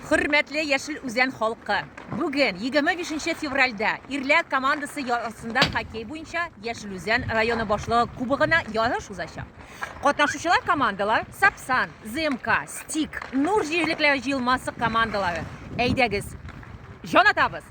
Хөрмәтле Яшел Үзән халкы! Бүген 25 февральдә ирләр командасы ярысында хоккей буенча Яшел Үзән районы башлыгы кубогына ярыш узачак. Катнашучылар командалар Сапсан, ЗМК, Стик, Нур җирлекләре җыелмасы командалары. Әйдәгез, җан атабыз!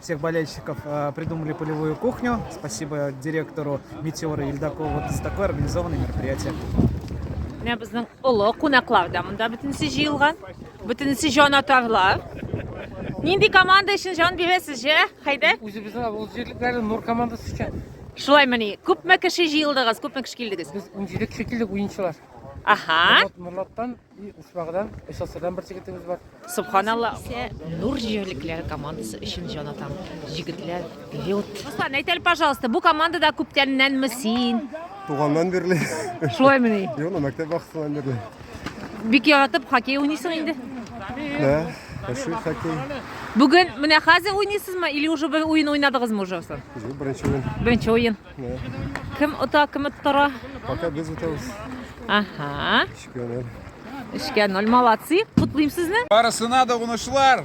Всех болельщиков э, придумали полевую кухню. Спасибо директору Метеора Ельдакову вот за такое организованное мероприятие. Менә безнең олы кунаклар да монда бөтенесе җыелган. Бөтенесе җанатарлар. Нинди команда өчен җан бирәсез, ә? Хәйдәр? Үзебезнең авыл җирлекләре Нур командасы өчен. Шулаймыни? Күпме кеше җыелдыгыз? Күпме кеше килдегез? Без 17 кеше килдек уенчылар. Аха. Нурлаттан И Ушмагыдан, СССРдан бер жигетебез бар. Субханалла. Исә Нур җирлекләре командасы өчен җан атам. Җигетләр, вперед! Руслан, әйт әле, пожалуйста, бу командада күптәннәнме син? Туганнан бирле. Шулаймыни? Юк, ну, мәктәп вакытыннан бирле. Бик яратып хоккей уйныйсың инде. Да, яши хоккей. Бүген менә хәзер уйныйсызмы или уже бер уен уйнадыгызмы уже соң? Юк, беренче уен. Беренче уен. Да. Кем ота, кем оттыра? Пока без утабыз. Ага. Гомер. Эшкә ноль молодцы. Котлыйм сезне. Барысына да унышлар.